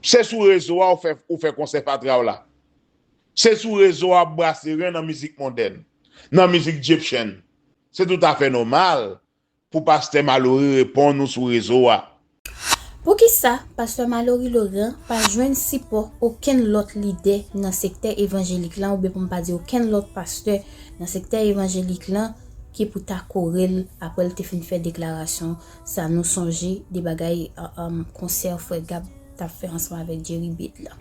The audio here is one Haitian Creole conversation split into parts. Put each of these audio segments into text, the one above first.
Se sou rezo a ou fè konsè fatra w la. Se sou rezo a ou brase ren nan mizik mondèn, nan mizik djepchen. Se tout afè nòmal pou pastè Malory reponn ou sou rezo a. Poukisa pastè Malory Laurent pa jwenn sipò okenn lòt lidè nan sektè evanjelik lan oubyen pou m pa di okenn lòt pastè nan sektè evanjelik lan ki pou ta kore l apre l te fin fè deklarasyon Sa nou sonje de bagay konsè frè Gab tap fè ansanm avèk Jerry Beat la?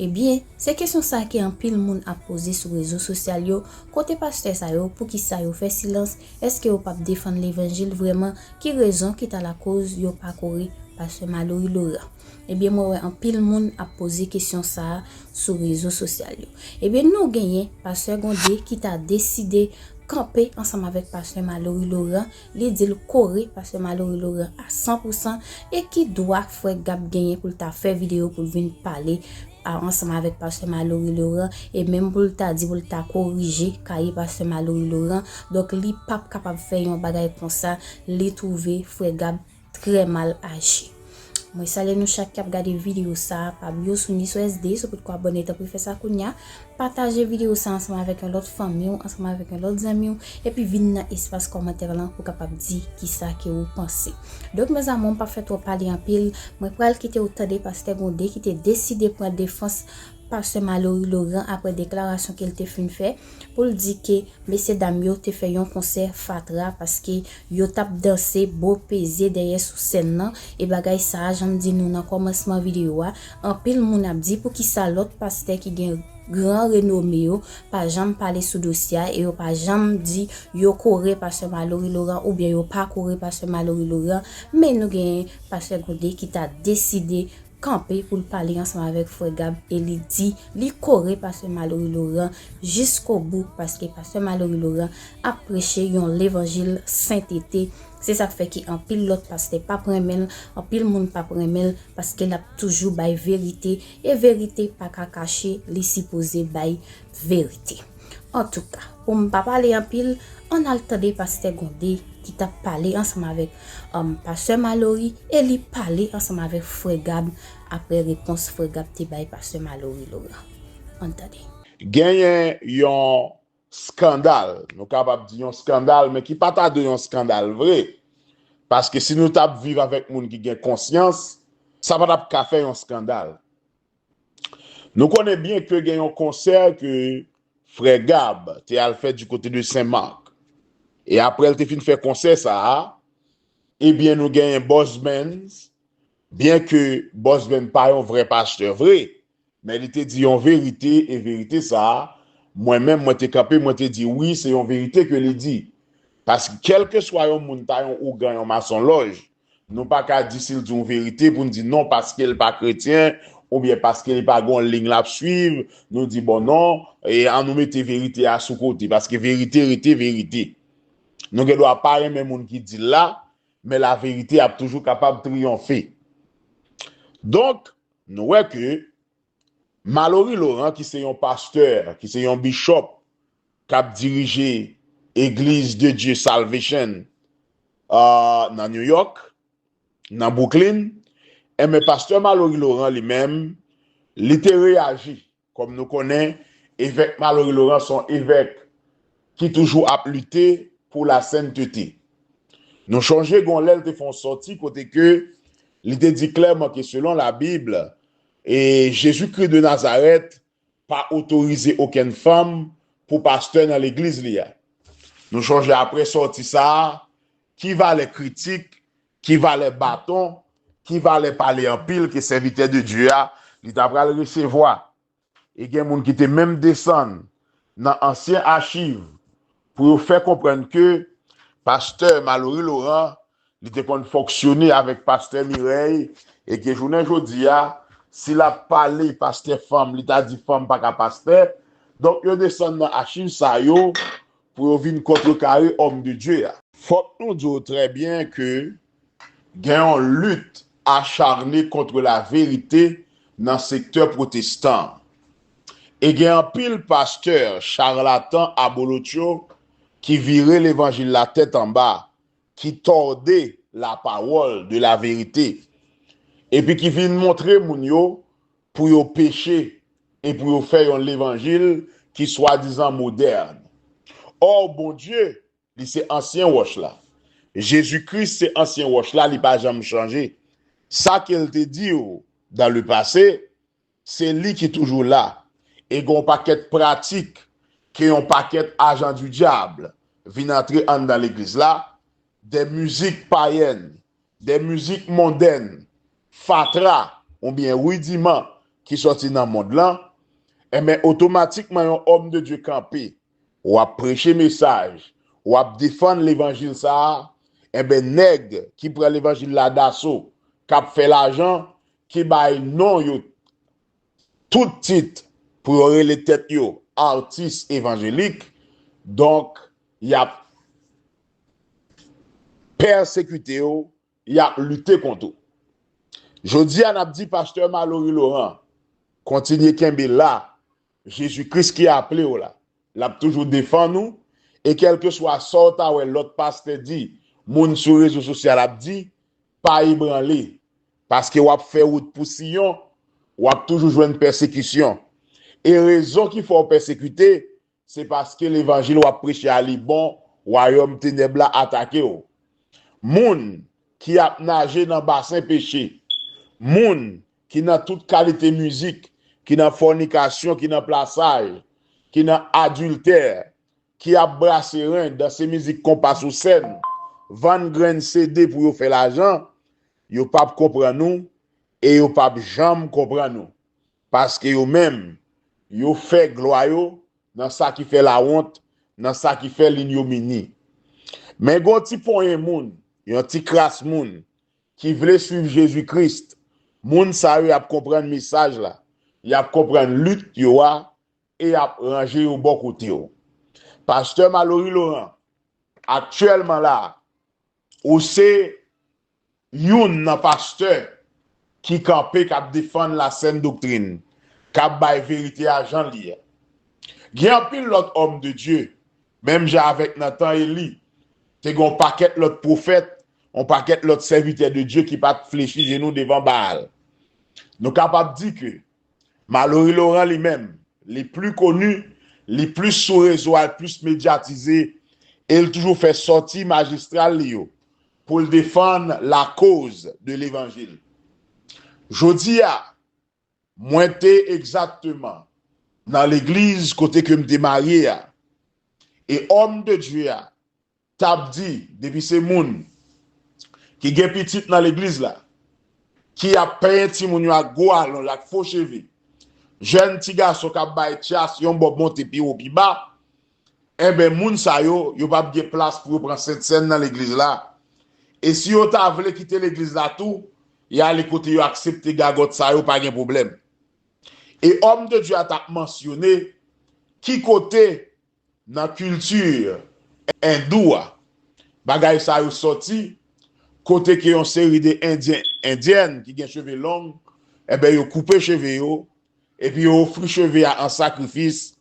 Ebyen, se kesyon sa ke anpil moun ap poze sou rezo sosyal yo, kote pastè sa yo, poukisa yo fè silans, eske yo pap defann levanjil vrèman, ki rezon ki ta lakoz yo pa kore pastè Malory Laurent? Ebyen mwen wè anpil moun ap poze kesyon sa sou rezo sosyal yo. Ebyen nou genyen pastè Gondé ki ta deside kanpe ansanm avèk pastè Malory Laurent, Li di l kore pastè Malory Laurent a 100 pou 100 e ki dwa frè Gab genyen pou l ta fè videyo pou l vin pale ansanm avèk pastè Malory Laurent e menm pou l ta di pou l ta korije kaye pastè Malory Laurent donk li pap kapab fè yon bagay konsa li twouve frè Gab Trè mal aji. Mwen salye nou chak kap gade video sa pa bliw sou ni sou SD si w potko abòne tanpri fè sa kounya pataje video sa ansanm avèk yon lòt fanmi w ansanm avèk yon lòt zanmi w epi vin nan espas kòmantè lan pou kapab di kisa ke ou panse donk mes amour m pap fè twòp pale anpil mwen pral kite w tande paske gon de ki te deside pran defans Pastè Malory Laurent aprè deklarasyon ke l te fin fè pou l di ke mesye dam yo te fè yon konsè fatra paske yo t ap danse bo peze dèyè sou sèn nan e bagay sa a jan m di nou nan kòmansman videyo a anpil moun ap di poukisa lòt pastè ki gen gran renome yo pa janm pale sou dosye a e yo pa janm di yo kore pastè Malory Laurent oubyen yo pa kore pastè Malory Laurent men nou gen pastè Gode ki ta deside kanpe pou l pale ansanm avèk frè Gab e li di li kore pastè Malory Laurent jiskobou paske pastè Malory Laurent ap preche yon levanjil sentete se sak fè ke anpil lòt pastè pap renmen l anpil moun pap renmen l paske l ap toujou bay verite e verite pa ka kache li sipoze bay verite antouka pou m pa pale anpil ann al tande pastè Gondé ki tap pale ansanm avèk Pastè Malory e li pale ansanm avèk frè Gab aprè repons frè Gab te bay pastè Malory Laurent. Ann tande. Genyen yon skandal, nou kapab di yon skandal men ki pa ta dwe yon skandal vre, paske si nou t ap viv avèk moun ki gen konsyans, sa pa t ap ka fè yon skandal. Nou konnen byen ke gen yon konsè ke frè Gab te al fè di kote de Sen Mak. E aprè l te fin fè konsè sa a, ebyen nou genyen Boss Benz, byen ke Boss Benz pa yon vrè pastè vre, men li te di yon verite e verite sa a, mwen menm mwen te kanpe mwen te di wi se yon verite ke li di. Paske kèlkeswa yon moun ta yon ougan, yon masonlòj, Nou pa ka di si l di yon verite pou n di non paske l pa kretyen oubyen paske li pa gen yon liy l ap suiv nou di bon non an nou mete verite a sou kote paske verite rete verite. Nou gen dwa pa renmen moun ki di l la men laverite ap toujou kapab triyonfe. Donk nou wè ke Malory Laurent ki se yon pastè, ki se yon bishop, k ap dirije Eglise de Dieu Salvation nan New York, nan Brooklyn, enben pastè Malory Laurent li menm, li te reyaji, kòm nou konnen Evèk Malory Laurent s on Evèk ki toujou ap lite pou la sentete. Nou chonje gon lè l te fè on sòti kote ke li te di klèman ke selon la Bible, Jésus-Christ de Nazareth pa otorize okenn fanm pou pastè nan legliz li a. Nou chonje apre sòti sa a, ki valè kritik, ki valè baton, ki valè pale anpil ke sèvitè de Dye a li ta pral resevwa. E gen moun ki te menm desann nan ansyen achiv pou yo fè konprann ke pastè Malory Laurent Li te konn fonksyone avèk pastè Mirèy e ke jounen jodi a, si l ap pale pastè fanm, li ta di fanm pa ka pastè. Donk yo desann nan achiv sa yo pou yo vin kontrekare Homme de Dieu a. Fòk nou di w trè byen ke gen yon lit acharne kontre laverite nan sektè pwotestan an. E gen anpil pastè charlatan abolotcho ki vire levanjil la tèt anba ki tòde lapawòl de laverite, epi ki vin montre moun yo pou yo peche e pou yo fè yon levanjil ki swadizan modèn. Ò, Bondye, li se ansyen wòch la. Jezi Kris se ansyen wòch la, li pa janm chanje. Sa ke L te di yo dan le pase, Se li ki toujou la. E gen yon pakèt pratik ke yon pakèt ajan di dyab vin antre anndan legliz la, dè mizik payèn, dè mizik mondèn, fatra oubyen ridiman ki sòti nan mond lan, enben otomatikman yon òm de Dye kanpe, ou ap preche mesaj, ou ap defann levanjil sa a, enben nèg ki pran levanjil la daso, k ap fè lajan, ki bay non yo tout tit pou yo rele tèt yo atis evanjelik, donk y ap pèsekite w, y ap lite kont ou. Jodi a n ap di pastè Malory Laurent kontinye kenbe la Jezi Kris ki aple w la. L ap toujou defann ou e kèlkeswa sa w ta wè lòt pastè di, moun sou rezo sosyal ap di, pa ebranle. Paske w ap fè wout pou Siyon, w ap toujou jwenn pèsekisyon. E rezon ki fè w pèsekite, se paske levanjil w ap preche a li bon, wayòm tenèb la atake w. Moun ki ap naje nan basen peche. Moun ki nan tout kalite mizik, ki nan fònikasyon, ki nan plasaj, ki nan adiltè, ki ap brase ren, danse mizik konpa sou sèn, vann grenn CD pou yo fè lajan, yo pap konprann nou e yo pap janm konprann nou. Paske yo menm, yo fè glwa yo nan sa ki fè lawont, nan sa ki fè linnyomini. Men gon ti ponyen moun, yon ti kras moun, ki vle swiv Jezi Kris. Moun sa yo y ap konprann mesaj la, y ap konprann lit yo a e y ap ranje yo bò kote w. Pastè Malory Laurent, aktyèlman la a, ou se youn nan pastè ki kanpe k ap defann lasèn doktrin, k ap bay verite a jan l ye. Gen anpil lòt òm de Dye Menm jan avèk nan tan Eli, te gen yon pakèt lòt pwofèt, yon pakèt lòt sèvitè de Dye ki pa t flechi jenou devan Baal. Nou kapab di ke Malory Laurent li menm, li pli koni, li plis sou rezo a, li plis medyatize e li toujou fè sòti majistral li yo pou li defann lakoz de levanjil. Jodi a, Mwen te egzakteman nan legliz kote ke m te marye a, e òm de Dye a t ap di, depi se moun ki gen pitit nan legliz la, ki ap penyen timoun yo ak gwo alonj, ak fo cheve, jèn ti gason k ap bay tyas yon bò monte pi wo pi ba, Enben, moun sa yo, yo pap gen plas pou yo pran sentsèn nan legliz la. E si yo ta vle kite legliz la tou, y ale kote yo aksepte gagòt sa yo pa gen pwoblèm. E òm de Dye a ta mansyone ki kote nan kilti Endou a bagay sa yo sòti, kote ke yon seri de Endyen, Endyèn ki gen cheve long, enben yo koupe cheve yo, Epi yo ofri cheve a an sakrifis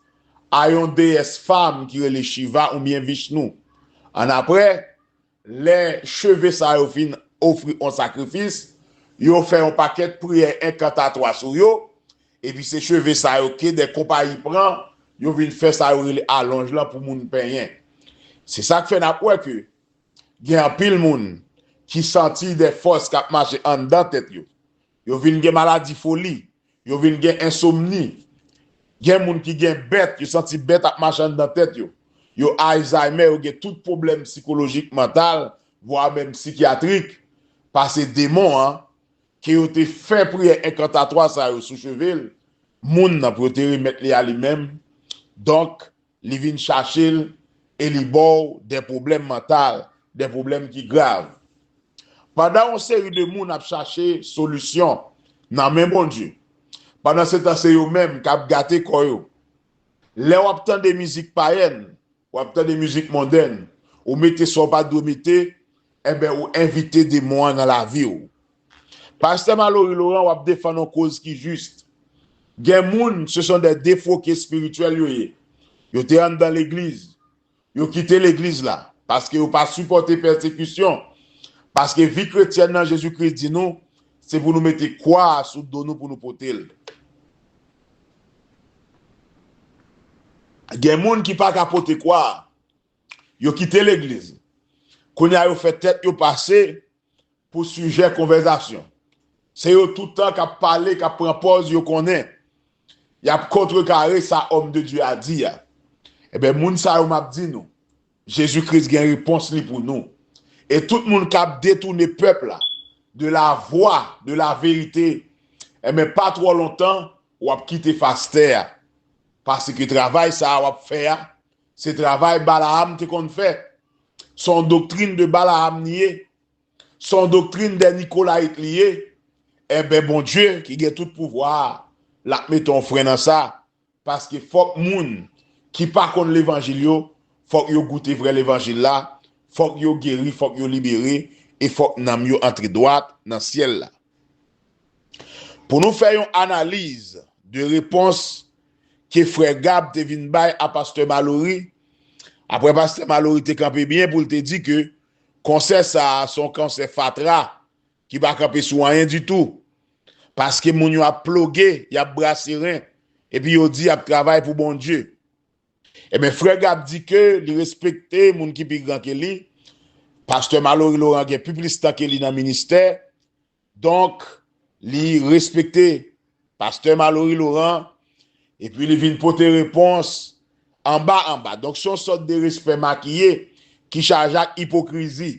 a yon deyès fanm ki rele Shiva oubyen Vishnu. Annapre, lè cheve sa yo fin ofri an sakrifis, yo fè yon pakèt priyè enkantatwa sou yo, epi se cheve sa yo ke de konpayi pran, yo vin fè sa yo rele alonj lan pou moun penyen. Se sa k fè n ap wè ke gen anpil moun ki santi de fòs k ap mache anndan tèt yo. Yo vin gen maladi foli. Yo vin gen ensomni. Gen moun ki gen bèt, yo santi bèt ap mache anndan tèt yo. Yo Ayzaymè, yo gen tout pwoblèm sikolojik, mantal, vwa menm sikyatrik, pase demon an, ke yo te fè priyè enkantatwa sa yo sou cheve l, moun nan, pou yo te remèt li a li menm. Donk, Li vin chache l e li ba w de pwoblèm mantal, de pwoblèm ki grav. Pandan yon seri de moun ap chache solisyon nan men Bondye, pandansetan se yo menm k ap gate kò yo. Lè w ap tande mizik payèn, w ap tande mizik mondenn, ou mete sa w pa t dwe mete, enben ou envite demon an nan lavi w. Pastè Malory Laurent wap defann on koz ki juste. Gen moun ce sont des defroqués spirituels yo ye. Yo te anndan legliz. Yo kite legliz la. Paske yo pa sipòte pèsekisyon. Paske vi kretyèn nan Jezi Kris di nou se pou nou mete kwa a sou do nou pou nou pote l. Gen moun ki pa ka pote kwa a. Yo kite legliz. Kounya yo fè tèt yo pase pou sijè konvèzasyon. Se yo toutan k ap pale, k ap pran pòz yo konnen. Y ap kontrekare sa òm de Dye a di a. Enben, moun sa yo m ap di nou, Jezi Kris gen repons li pou nou. E tout moun k ap detoune pèp la de lavwa de laverite, enben, pa twò lontan, w ap kite fas tè a, paske travay sa a w ap fè a, Se travay Balaam te konn fè. Se yon doktrin de Balaam li ye. Se yon doktrin dè Nikolayit li ye. Enben Bondye ki gen tout pouvwa a, l ap mete yon fren nan sa, paske fòk moun ki pa konn levanjil yo, fòk yo goute vrè levanjil la, fòk yo geri, fòk yo libere, e fòk nanm yo antre dwat nan syèl la. Pou nou fè yon analiz de repons ke frè Gab te vin bay a pastè Malory aprè pastè Malory te kanpe byen pou l te di ke konsè sa a se yon konsè fatra ki pa kanpe sou anyen ditou paske moun yo ap ploge y ap brase ren epi yo di y ap travay pou Bondye enben frè Gab di ke li respekte moun ki pi gran ke li pastè Malory Laurent gen pi plis tan ke li nan ministè Donk, li respekte pastè Malory Laurent epi li vin pote repons anba anba. Donk, se yon sòt de respè makiye ki chaje ak ipokrizi.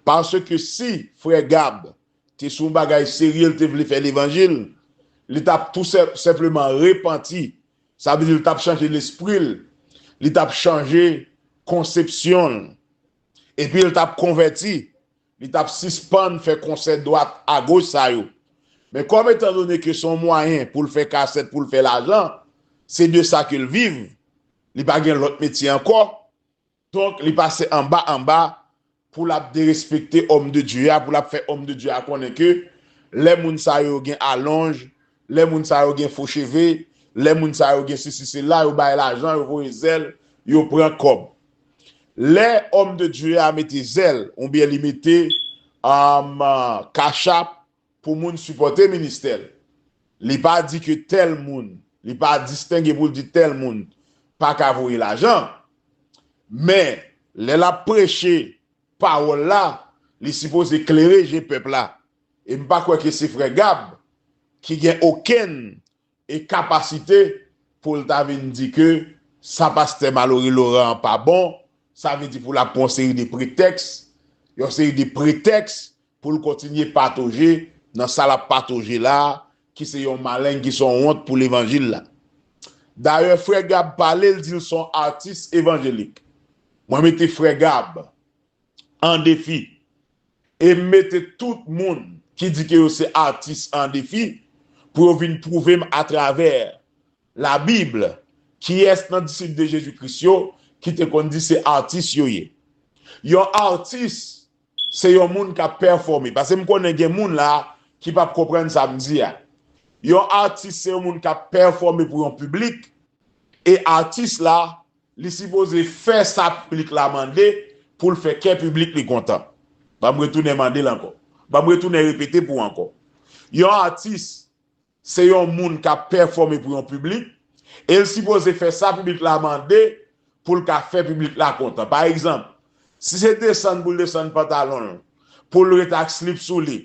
Paske si frè Gab te sou yon bagay serye li te vle fè levanjil, li t ap tou senpleman repanti, sa vle di li t ap chanje lespri l, li t ap chanje konsepsyon l epi li t ap konvèti. Li t ap sispann fè konsè dwat a goch sa yo. Men kòm etan done ke se yon mwayen pou l fè kasèt pou l fè lajan, se de sa ke l viv, li pa gen lòt metye ankò, donk li pase anba anba pou l ap derespekte Homme de Dieu a, pou l ap fè Homme de Dieu a konnen ke lè moun sa yo gen alonj, Lè moun sa yo gen fo cheve, lè moun sa yo gen sesi sela, yo bay lajan, yo voye zèl, yo pran kòb. Lè Homme de Dieu a mete zèl oubyen li mete cash app pou moun sipòte ministè l, li pa di ke tèl moun, li pa distenge pou l di tèl moun pa ka voye lajan. Men, lè l ap preche pawòl la, li sipoze klere je pèp la. E m pa kwè ke se frè Gab ki gen okenn e kapasite pou l ta vin di ke sa pastè Malory Laurent an pa bon, sa vle di pou l ap pran yon seri de pretèks, yon seri de pretèks pou l kontinye patoje nan sa l ap patoje la a ki se yon maleng ki se yon wont pou levanjil la. Dayè frè Gab pale l di l se yon atis evanjelik. Mwen mete frè Gab an defi e m mete tout moun ki di ke yo se atis an defi pou yo vin pwouve m atravè la bib kiyès nan disip de Jezi Kris yo ki te konn di se atis yo ye. Yon atis se yon moun k ap pèfòme pase m konnen gen moun la ki p ap konprann sa m di a. Yon atis se yon moun k ap pèfòme pou yon piblik e atis la Li sipoze fè sa piblik la mande pou l fè kè piblik li kontan. Banm retounen mande l ankò. Banm retounen repete pou ankò. Yon atis se yon moun k ap pèfòme pou yon piblik e l sipoze fè sa piblik la mande pou l ka fè piblik la kontan. Pa egzanp, si se desann pou l desann pantalon l pou l ret ak slip sou li,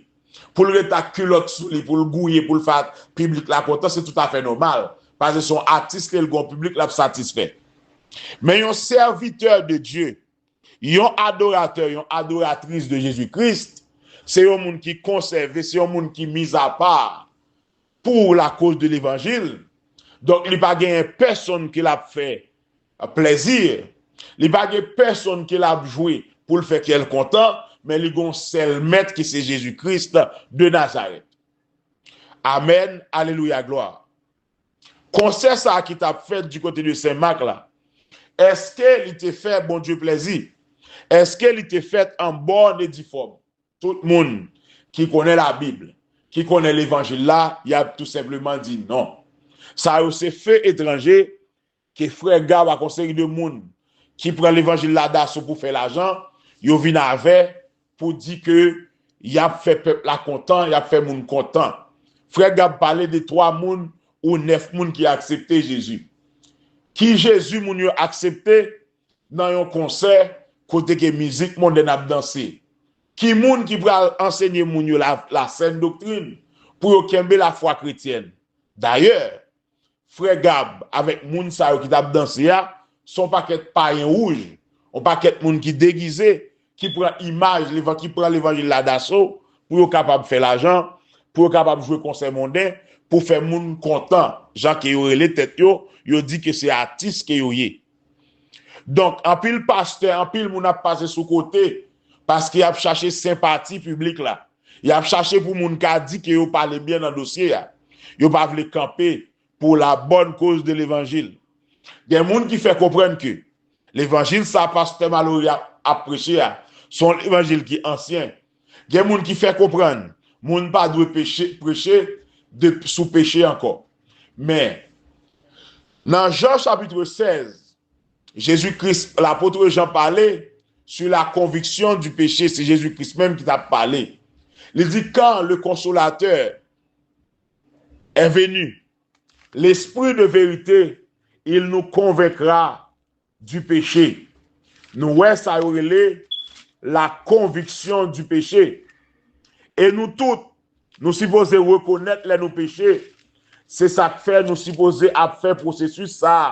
Pou l ret ak kilòt sou li, pou l gouye, pou l fè piblik la kontan, se toutafè nòmal, paske se yon atis li e l gen yon piblik l ap satisfè. Men yon sèvitè de Dye, yon adoratè, yon adoratris de Jezi Kris, se yon moun ki konsève, se yon moun ki mizapa pou lakoz de levanjil, donk li pa genyen pèsonn ke l ap fè Plaisir! Li pa gen pèsonn ke lap jwe poul fè kèl kontan, men li gon sèl mèt ki se Jezi Christ de Nazareth. Amen Alleluia Gloire! Konsè sa ki tap fèt du kote de Sen Mak la, eske li te fè Bondye plèzi? Eske li te fèt an bonne et due forme? Tout moun ki konnen la Bible, ki konnen levanjil la, yap tou senpleman di non. Sa yo se feu etranje Ke frè Gaw ak yon seri de moun ki pran levanjil la daso pou fè lajan, yo vin avè pou di ke yap fè pèp la kontan, yap fè moun kontan. Frè Gab pale de 3 moun ou 9 moun ki aksepte Jezi. Ki Jezi moun yo aksepte nan yon konsè kote ke mizik mondèn ap danse? Ki moun ki pral ansenye moun yo la sèn doktrin pou yo kenbe lafwa kretyèn? Dayè, Frè Gab avèk moun sa yo ki tap danse a, se yon pakèt payen wouj, yon pakèt moun ki degize, ki pran imaj, ki pran levanjil la daso pou yo kapab fè lajan, pou yo kapab jwe konsè monden, pou fè moun kontan, jan ke yo rele tèt yo, yo di ke se atis ke yo ye. Donk, anpil pastè, anpil moun ap pase sou kote, paske yap chache senpati piblik la. Y ap chache pou moun ka di ke yo pale byen nan dosye a. Yo pa vle kanpe pou la bòn koz de levanjil. Gen moun ki fè konprann ke levanjil sa pastè Malory ap preche a se yon levanjil ki ansyen. Gen moun ki fè konprann moun pa dwe preche de sou peche ankò. Men, nan Jan chapitre 16, Jezi Kris, Lapotre Jan pale sou la konviksyon di peche, se Jezi Kris menm ki t ap pale. Li di, Kan le Konsolatè è veni, Lespri de verite, il nou konvenkra di peche. Nou wè sa yo rele la konviksyon di peche. E nou tout, nou sipoze rekonèt lè nou peche, se sa k fè nou sipoze ap fè pwosesis sa a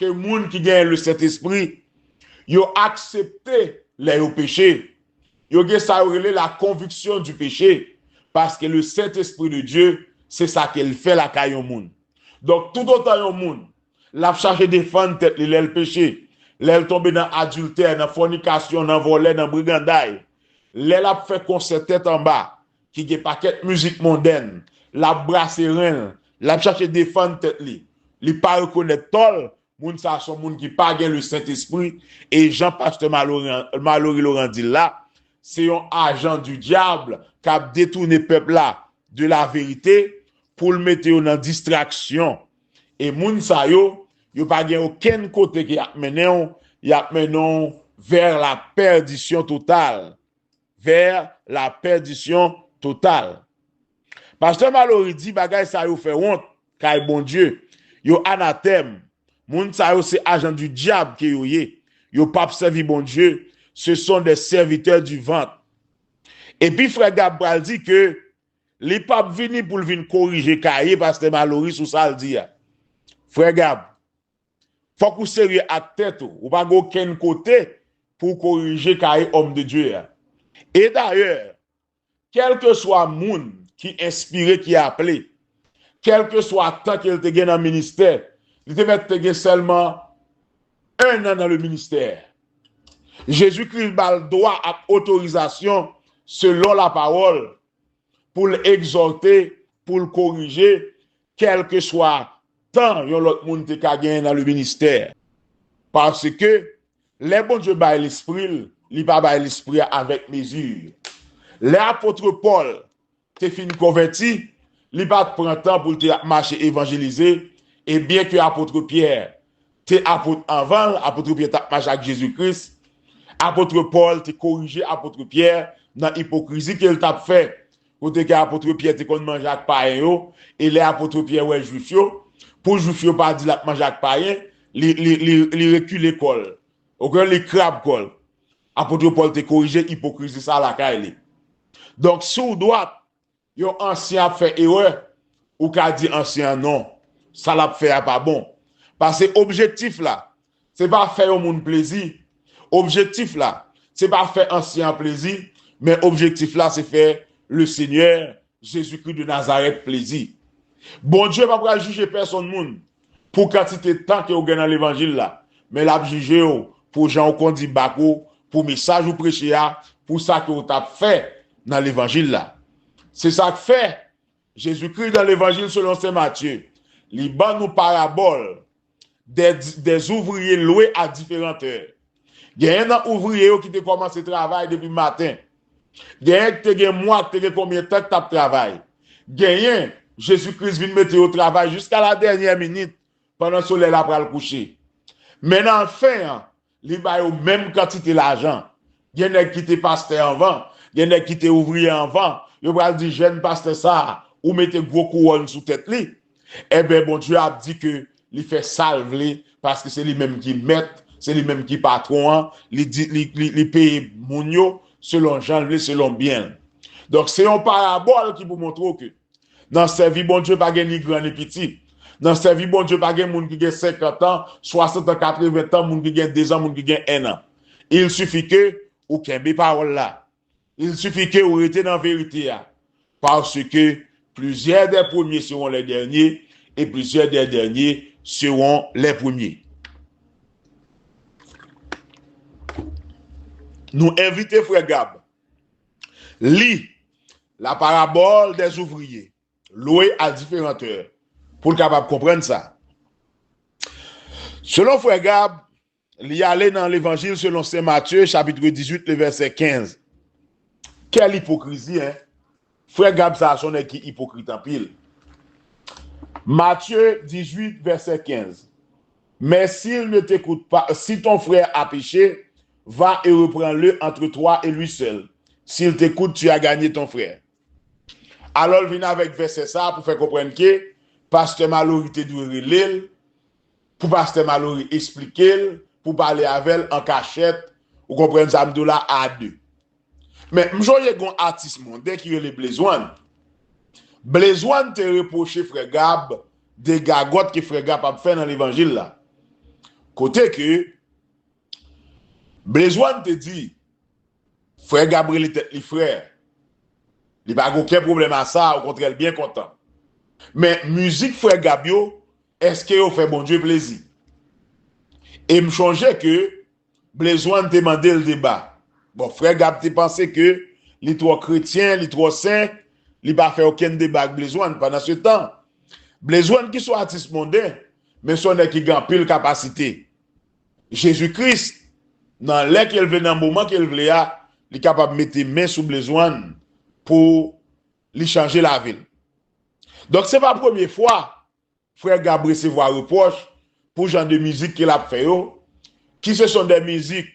Ke moun ki genyen le Sentespri, yo aksepte lè yo peche. Yo gen sa yo rele la konviksyon di peche, paske le Sentespri de Dye, se sa ke l fè lakay yon moun. Donk, toutotan yon moun, l ap chache defann tèt li lè l peche, lè l tonbe nan adiltè, nan fònikasyon, nan vòlè, nan briganday, lè l ap fè konsè tèt anba, ki gen pakèt mizik mondèn, l ap brase ren l, l ap chache defann tèt li, li pa rekonèt tò l, moun sa a s on moun ki pa gen Lesentespri e jan pastè Malory Laurent di l la, se yon ajan di dyab k ap detoune pèp la de laverite pou l mete yo nan distraksyon e moun sa yo, yo pa gen okenn kote ke y ap mennen w, y ap mennen w vè lapèdisyon total. Vers la perdition totale. Pasteur Malory di bagay sa yo fè wont kay Bondye, yo anatèm, moun sa yo se ajan du diab ke yo ye, yo pap sèvi Bondye, ce sont des serviteurs du ventre. Epi frè Gab pral di ke li pap vini poul vin korije kaye Pasteur Malory sou sal di a. Frè Gab, Fok ou serye ak tet ou. Ou pa gen okenn kote pou w korije kaye Homme de Dieu a. E dayè, kelkeswa moun ki enspire, ki aple, kelkeswa tan ke l te gen nan ministè, li te mèt te gen selman 1 an nan le ministè. Jezi Kris ba l dwa ak otorizasyon selon la pawol pou l egzote, pou l korije, kèlkeswa tan yon lòt moun te ka genyen nan leministè. Paske, lè Bondye bay lespri l, li pa bay lespri a avèk mezi. Lè apôtre Pòl te fin konvèti, li pa t pran tan pou l te ap mache evanjelize, e byenke apôtre Pierre te apot anvan l, apotre Pyè t ap mache ak Jezi Kris. Apotre Pòl te korije apotre Pyè nan ipokrizi ke l t ap fè, kote ke apotre Pyè te konn manje ak payen yo, e lè apotre Pyè wè Jwif yo, pou Jwif yo pa di l ap manje ak payen, li rekile kò l, oke, li krab kò l. Apotre Pòl te korije ipokrizi sa lakay li. Donk, si w dwat, Yon ansyen ap fè erè, ou ka di ansyen an non, sa l ap fè a pa bon. Pase objektif la, se pa fè yon moun plezi, objektif la, se pa fè ansyen an plezi, men objektif la se fè Lesenyè Jezikri de Nazarèt plezi. Bondye pa pral jije pèsonn moun, Pou kantite tan ke ou gen nan levanjil la, men l'ap jije ou pou jan ou kondi bak ou, pou mesaj ou preche a, pou sa ke ou t'ap fè nan levanjil la. Se sa k'fè, Jezikri nan Levanjil selon Sen Matye, li ban nou parabòl de zouvriye lwe a diferan tè. Genyen nan ouvriye yo ki te kòmanse travay depi maten. Genyen ki te gen mwa, ki te gen konbyen tan ki t ap travay. Genyen, Jezi Kris vin mete yo travay jiska ladènyè minit, pandan solèy la pral kouche. Men nan fen an, li ba yo menm kantite lajan. Gen nèg ki te pastè anvan, gen nèg ki te ouvriye anvan, yo pral di jèn pastè sa a, ou mete gwo kouwòn sou tèt li. Enben Bondye ap di ke li fè sa l vle paske se li menm ki mèt, se li menm ki patwon an, li peye moun yo selon jan l vle, selon byen l. Donk se yon parabòl ki pou montre w ke nan sèvi Bondye pa gen ni gran ni piti. Nan sèvi Bondye pa gen moun ki gen senkantan, swasantan, katreventan, moun ki gen dezan, moun ki gen ennan. Il sifi ke ou kenbe pawòl la. Il suffit ke ou rete nan verite a, parce que plusieurs des premiers seront les derniers et plusieurs des derniers seront les premiers. Nou envite frè Gab li La parabole des ouvriers loués à différentes heures pou l kapab konprann sa. Selon frè Gab, Li ale nan Levanjil selon Sen Matye chapitre 18 le vèsè 15. Kèl ipokrizi hein! Frè Gab sa a son nèg ki ipokrit anpil. Matye 18 vèsè 15, Mè si l ne tekout pa, si ton frè a peche, va e repran le antre twa e lwi sèl, si l tekout tu a ganye ton frè. Alò l vin avèk vèsè sa a pou fè konprann ke Pastè Malory te dwe rele l pou pastè Malory esplikel pou pale avèl an kachèt ou konprann sa m di w la a 2 men m sonje gon atis monden ki rele Blaze One Blaze One te repwoche frè Gab de gagòt ke frè Gab ap fè nan levanjil la kote ke Blaze One te di frè Gab rele tèt li frè li pa gen oken pwoblèm a sa okontrè l byen kontan men mizik frè Gab yo Eske yo fè Bondye plezi? E m chonje ke Blezwan te mande l deba. Bon, frè Gab te panse ke li twò kretyen, li twò sen, li pa fè okenn deba ak Blezwan. Pandansetan, Blezwan ki son atis monden, men son nèg ki gen anpil kapasite. Jezi Kris, nan lè ke l vle, nan moman ke l vle a, li kapab mete men sou Blezwan pou li chanje lavi l. Donk se pa premye fwa Frè Gab resevwa repwòch pou jan de mizik ke lap fè yo, ki se son dè mizik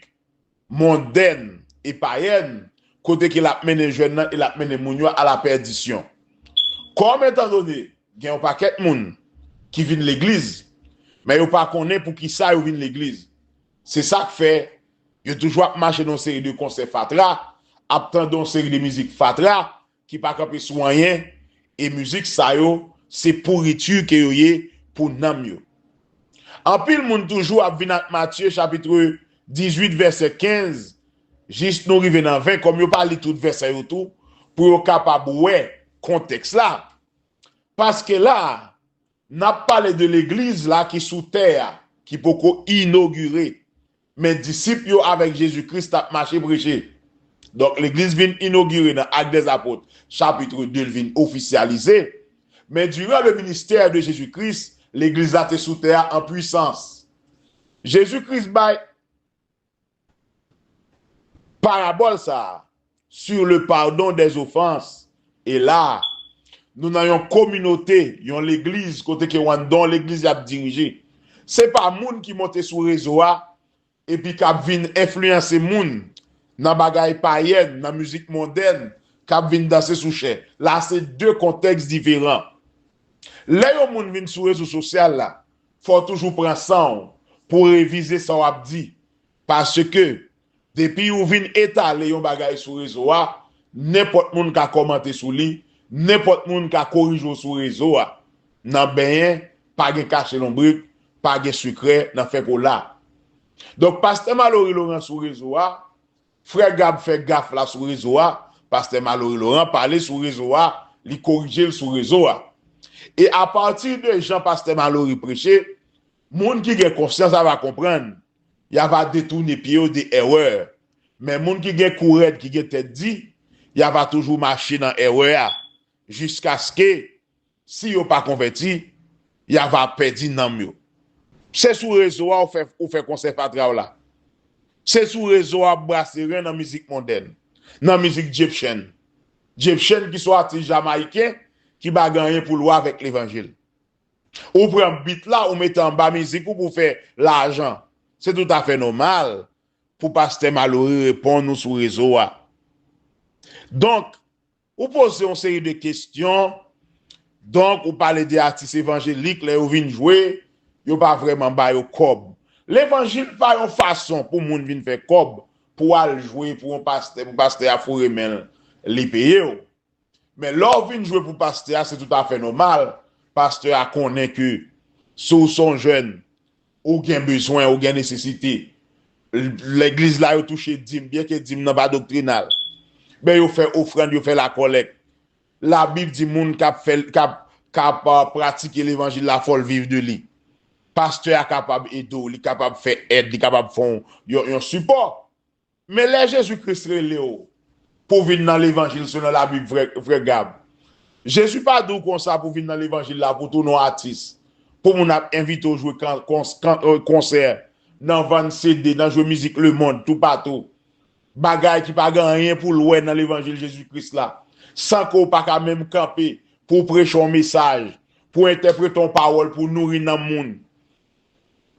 mondèn e payèn, kote ke lap mennen jèn nan e lap mennen moun yo a la pèdisyon. Kòm etan done gen yon pakèt moun ki vin legliz, men yo pa konnen pou ki sa yo vin legliz. Se sak fè yo toujou ap mache nan yon seri de konsè fatra, ap tande yon seri de mizik fatra, Ki pa kanpe sou anyen e mizik sa yo se pourriture ke yo ye pou nanm yo. Anpil moun toujou ap vin ak Matye chapitre 18 vèsè 15 jis nou rive nan 20 kòm yo pa li tout vèsè yo tou pou yo kapab wè kontèks la paske la N ap pale de Legliz la ki sou tè a, ki poko inogire, men disip yo avèk Jezi Kris t ap mache preche. Donk, Legliz vin inogire nan Actes des Apôtres, chapitre 2, l vin ofisyalize, men diran le ministère de Jésus Christ, Legliz la te sou tè a an pwisans. Jezi Kris bay. Parabòl sa a, Sur le pardon des offenses, e la a, nou nan yon kominote, yon legliz kote ke wan don legliz la ap dirije. Se pa moun ki monte sou rezo a epi k ap vin enfliyanse moun nan bagay payèn, nan mizik mondèn, k ap vin danse sou chè. La a se de kontèks diferan. Lè yon moun vin sou rezo sosyal la, Fò w toujou pran san w pou w revize sa w ap di. Paske, depi ou vin etale yon bagay sou rezo a, nenpòt moun ka kòmante sou li, nenpòt moun ka korije w sou rezo a. Nan benyen, pa gen kache lonbrit, pa gen sekrè nan fè kola. Donk, pastè Malory Laurent sou rezo a, Frè Gab fè gaf la sou rezo a, Pastè Malory Laurent pale sou rezo a, li korije l sou rezo a. E apati de jan Pastè Malory preche, moun ki gen konsyans ava konprann, y ava detoune pye yo de èrè. Men moun ki gen kou rèd, ki gen tèt di, y ava toujou mache nan èrè a, jiskaske Si yo pa konvèti, ya va pèdi nanm yo. Se sou rezo a ou fè konsè fatra w la. Se sou rezo a ou brase ren nan mizik mondèn, nan mizik Dyepchen. Dyepchen ki son atis jamayiken ki pa gen anyen pou l wè avèk levanjil. Ou pran bit la ou mete anba mizik ou pou w fè lajan. Se tout afè nòmal pou pastè Malory reponn ou sou rezo a. Donk, Ou poze yon seri de kestyon, donk ou pale de atis evanjelik lè yo vin jwe, yo pa vrèman ba yo kòb. Levanjil pa yon fason pou moun vin fè kòb pou w al jwe pou yon pastè, pou pastè a foure men l, li peye w. Men lè w vin jwe pou pastè a se toutafè nòmal, pastè a konnen ke si w se yon jèn, Ou gen bezwen, ou gen nesesite. Legliz la yo touche dim, byenke dim nan pa doktrinal. Men yo fè ofrann, yo fè lakòlèk. Labib di moun k ap pratike levanjil la fò l viv de li. Pastè a kapab ede w, li kapab fè èd, li kapab fè w yon sipò. Men lè Jezi Kris relew pou vin nan levanjil selon la bib vrè Gab Jezi pa diw konsa pou vin nan levanjil la pou tounen yon atis pou moun ap envitew jwe konsè nan vann CD nan jwe mizik lemond tou patou bagay ki pa gen anyen poul wè nan levanjil Jezi Kris la san ke w paka menm kanpe pouw preche yon mesaj pou entèprete yon pawòl pou nouri nanm moun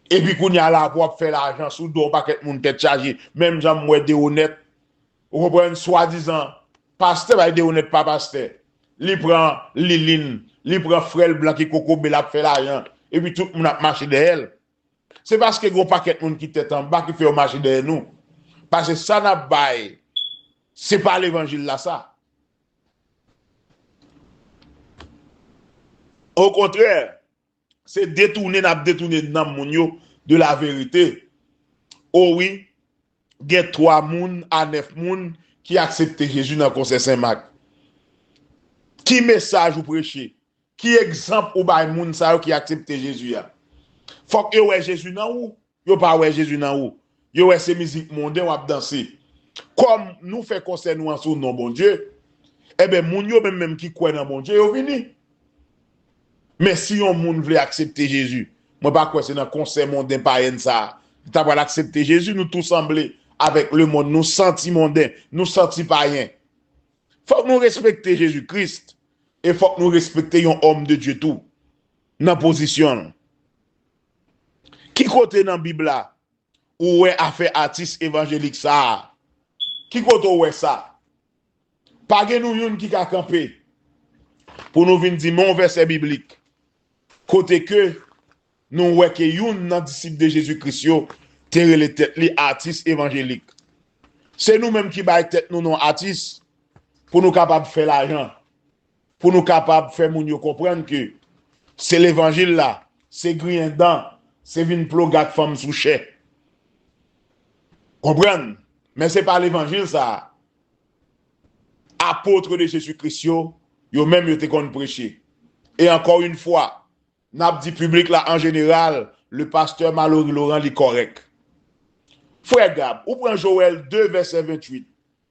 Epi kounya la pou ap fè lajan sou do yon pakèt moun tèt chaje menm jan m wè Deronette ou konprann swadizan pastè bay Deronette pa pastè li pran Liline li pran frè l blan ki kokobe l ap fè lajan epi tout moun ap mache dèyè l se paske gen yon pakèt moun ki tèt anba ki fè yo mache dèyè nou pase sa n ap bay se pa levanjil la sa okontrè Se detoune nap detoune nanm moun yo de la verite oh wi gen 3 moun a 9 moun ki aksepte Jezi nan konsè Sen Mak ki mesaj ou preche ki egzanp ou bay moun sa yo ki aksepte Jezi a fòk yo wè Jezi nan ou Yo pa wè Jezi nan ou. Yo wè se mizik monden w ap danse. Kòm nou fè konsè nou an sou non Bondye, enben moun yo menm menm ki kwè nan Bondye yo vini. Men si yon moun vle aksepte Jezi, mwen pa kwè se nan konsè monden payèn sa a li ta pral aksepte Jezi. Nou tou sanble avèk lemonn. Nou santi monden. Nou santi payen. Fòk nou respekte Jezi Kris e fòk nou respekte yon òm de Dye tou nan pozisyon l. Ki kote nan bib la ou wè afè atis evanjelik sa a? Ki kote ou wè sa? Pa gen nou youn ki ka kanpe pou nou vin di men yon vèsè biblik kote ke nou wè ke youn nan disip de Jezi Kris yo te rele tèt li atis evanjelik. Se nou menm ki bay tèt nou non atis pou nou kapab fè lajan. pou nou kapab fè moun yo konprann ke se levanjil la, se griyen dan, se vin ploge ak fanm sou chè. Konprann? Men se pa levanjil sa a Apotre de Jezi Kris yo, yo menm yo te konn preche. E ankò yn fwa, n ap di piblik la an jeneral, le Pasteur Malory Laurent li kòrèk. Frè Gab, ou pran Joel 2 vèsè 28,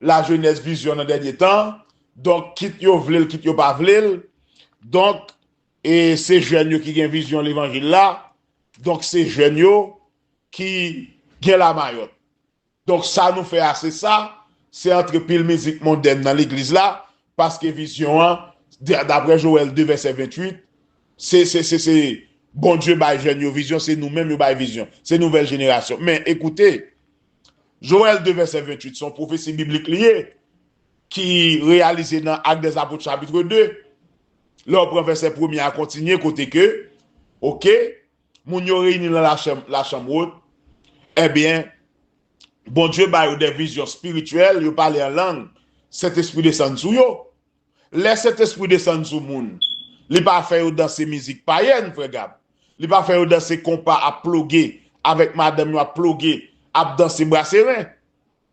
lajenès vizyon nan dènye tan, donk kit yo vle l kit yo pa vle l, donk e se jèn yo ki gen vizyon levanjil la, donk se jèn yo ki gen lamayòt. Donk sa nou fè a se sa, se antre pil mizik mondèn nan legliz la, paske vizyon an, daprè Joël 2 vèsè 28, se se se se Bondye bay jèn yo vizyon, se nou menm yo bay vizyon, se nouvèl jenerasyon. Men, ekoute! Joël 2 vèsè 28 se yon pwofesi biblik li ye ki reyalize nan Actes des Apôtres chapitre 2 lè ou pran vèsè premye a kontinye kote ke ok moun yo reyini nan la chanm wot ebyen Bondye ba yo de vizyon spirityèl yo pale an lang Sentespri desann sou yo. Lè Sentespri desann sou moun, li pa fè yo danse mizik payèn, Frè Gab. Li pa fè yo danse konpa ap ploge, avèk madanm yo ap ploge, ap danse brase ren.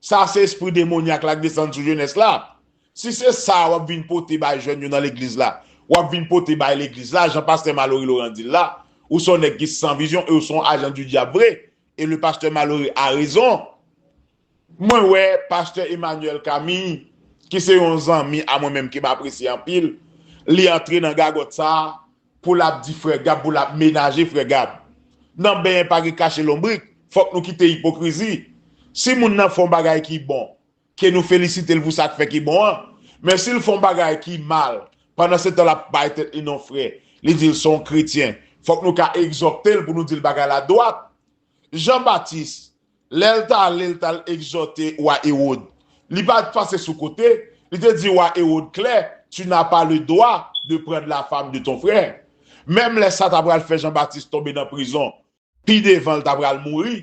Sa se espri demonyak la k desann sou jenès la. Si se sa a w ap vin pote bay jèn yo nan legliz la, w ap vin pote bay legliz la, jan Pastè Malory Laurent di l la, ou se yon nèg ki san vizyon e ou se yon ajan di dyab vre, e le Pasteur Malory a raison. Mwen wè pastè Emmanuel Camille ki se yon zanmi a mwen menm ke m apresye anpil, li antre nan gagòt sa a pou l ap di frè Gab, pou l ap menaje frè Gab. Nan benyen pa gen kache lonbrik, fòk nou kite ipokrizi. Si moun nan fè yon bagay ki bon, ke nou felisite l pou sa k fè ki bon an, men si l fè yon bagay ki mal, pandansetan l ap bay tèt li non frè, li di l se yon kretyen, fòk nou ka egzòte l pou nou di l bagay la dwat. Jean Baptiste, Lè l t ale, l t al egzòte wa Ewòd. Li pa t pase sou kote, li te di wa Ewòd klè, Tu n'as pas le droit de prendre la femme de ton frère. Menm lè sa t apral fè Jan Batis tonbe nan prizon, pi devan l t apral mouri,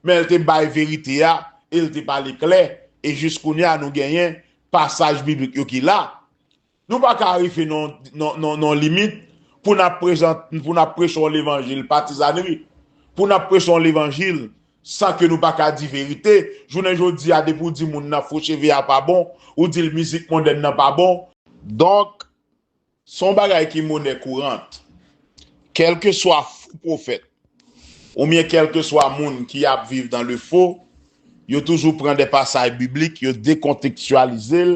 men l te bay verite a e l te pale klè, e jis kounye a nou genyen pasaj biblik yo ki la. Nou pa ka arive nan yon limit pou n ap preche yon levanjil patizanri, pou n ap preche yon levanjil san ke nou pa ka di verite. Jounen jodi a depi ou di moun nan fo cheve a pa bon, ou di l mizik mondèn nan pa bon. Donk, se yon bagay ki monè kourant. Kèlkeswa fo pwofèt oubyen kèlkeswa moun ki ap viv dan le fo, yo toujou pran de pasay biblik, yo dekontekstyalize l,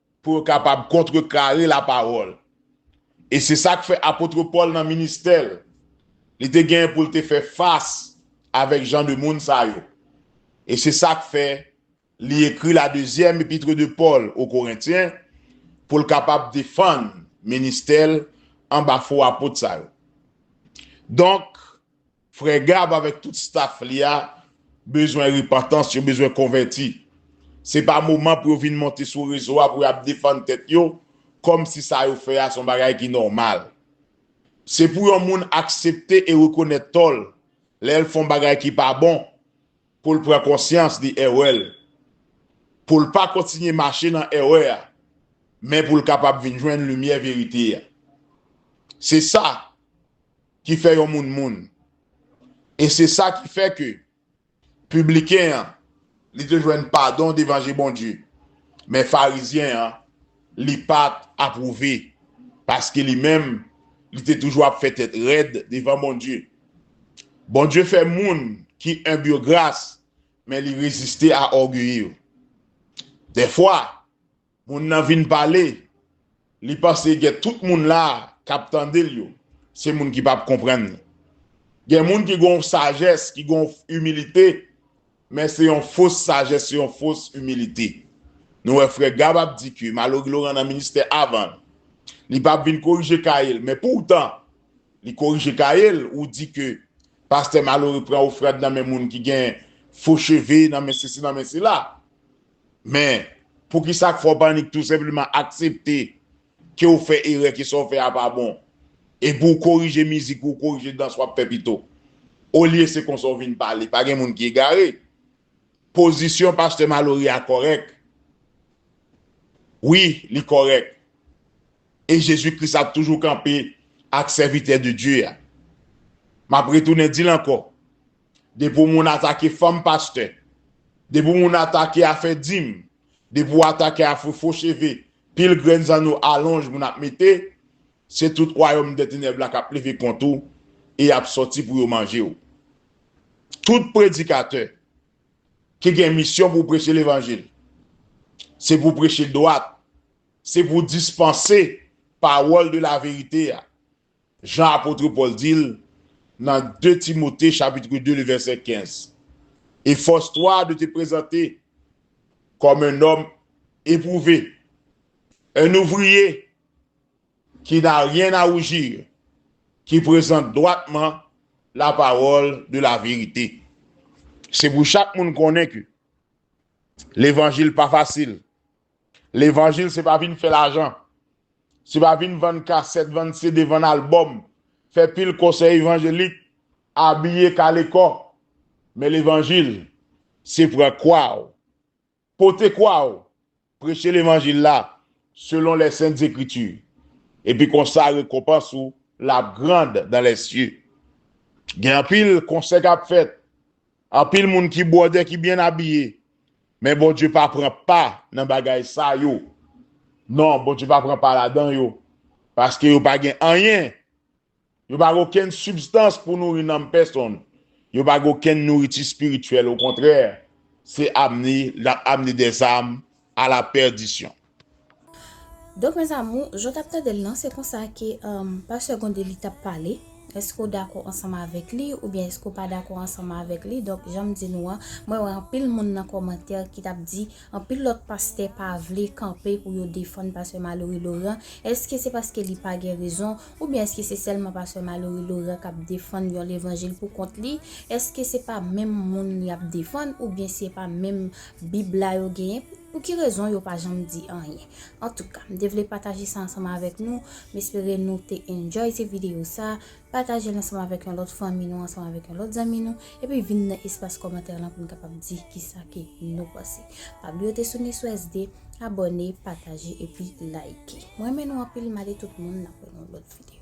pou yo kapab kontrekare lapawòl. E se sa k fè apôtre Pòl nan ministè l, li te genyen pou l te fè fas avèk jan de moun sa yo. E se sa k fè li ekri la dezyèm epitre de Pòl o Korentyen pou l kapab defann ministè l anba fo apot sa yo. Donk, Frè Gab avèk tout staff li a bezwen repantans, yo bezwen konvèti. Se pa moman pou yo vin monte sou rezo a pou yo ap defann tèt yo kòm si sa yo fè a se yon bagay ki nòmal. Se pou yon moun aksepte e rekonèt tò l, lè l fè yon bagay ki pa bon, pou l pran konsyans de erè l, pou l pa kontinye mache nan erè a, men pou l kapab vin jwenn limyè verite a. Se sa. ki fè yon moun moun. E se sa ki fè ke pibliken an, li te jwenn padon devan je Bondye, men farizyen an, li pa t apwouve, paske li menm, li te toujou ap fè tèt rèd devan Bondye. Bondye fè moun ki enb yo gras, men li reziste a ògeye yo. Dèfwa, Moun nan vin pale, li panse gen tout moun la k ap tande l yo, se moun ki pap konprann li. Gen moun ki gen yon sajès, ki gen yon imilite, men se yon fos sajès, se yon fos imilite. Nou wè frè Gab ap di ke Malory Laurent nan ministè avan l, li pap vin korije kaye l, men poutan li korije kaye l, ou di ke pastè Malory pran ofrand nan men moun ki gen fo cheve, nan men sesi, nan men sela. Men, poukisa k fè w panik tou senpleman aksepte ke w fè erè, ke sa w fè a pa bon? Epi w korije mizik ou, w korije dans w ap fè pito. Olye se konsa w vin pale. Pa gen moun ki egare. Pozisyon pastè Malory a kòrèk. Wi, li kòrèk. E Jezi Kris ap toujou kanpe ak sèvitè de Dye a. M ap retounen di l ankò, Depi w moun atake fanm pastè, depi w moun atake afè dim, depi w atake afè fo cheve, pil grenn zanno alonj moun ap mete, se tout wayòm dètenèb la k ap leve kont ou e y ap sòti pou yo manje w. Tout predikatè ki gen misyon pou preche levanjil, se pou preche dwat, se pou dispanse pawòl de laverite a, Jan apotre Pòl di l nan 2 Timote chapitre 2 le vèsè 15, Efòse twa de te prezante kòm un nòm epwouve, un ouvriye ki na ryen a woujir, ki prezante dwatman lapawòl de laverite. Se pou chak moun konnen ke levanjil pa fasil, Levanjil se pa vin fè lajan. Se pa vin vann kasèt, vann CD, vann albòm, fè pil konsèy evanjelik, abiye kale kò. Men levanjil se pran kwa ou, pote kwa ou, preche levanjil la selon les saintes Ecritures. Epi konsa rekonpans ou la ap grand dans les cieux. Gen anpil konsè kap fèt, Anpil moun ki bwòdè ki byen abiye men Bondye pa pran pa nan bagay sa yo non Bondye pa pran pa ladan yo paske yo pa gen anyen yo pa gen okenn sibstans pou nouri nanm pèsonn yo pa gen okenn nouriti spirityèl okontrè se amne lap amne dèzam a la perdisyon. Donk mes amours, jan w tap tandel lan se konsa ke Pasteur Gondeli tap pale, eske w dakò ansanm avèk li oubyen eske w pa dakò ansanm avèk li, donk jan m di nou an, mwen wè anpil moun nan kòmantè ki tap di anpil lòt pastè pa vle kanpe pou yo defann Pastè Malory Laurent, eske se paske li pa gen rezon, oubyen eske se sèlman Pastè Malory Laurent kap defann yon levanjil pou kont li, eske se pa menm moun li ap defann oubyen se pa menm Bib la yo genyen pou ki rezon yo pa janm di anyen antouka m te vle pataje sa ansanm avèk nou m espere nou te enjoy ti video sa patajel ansanm avèk yon lòt fanmi nou ansanm avèk yon lòt zanmi nou epi vin nan espas kòmantè lan pou nou kapab di kisa ke nou panse pa bliye te soune sou SD abòne pataje epi like m renmen nou anpil male tout moun nan pou yon lòt video.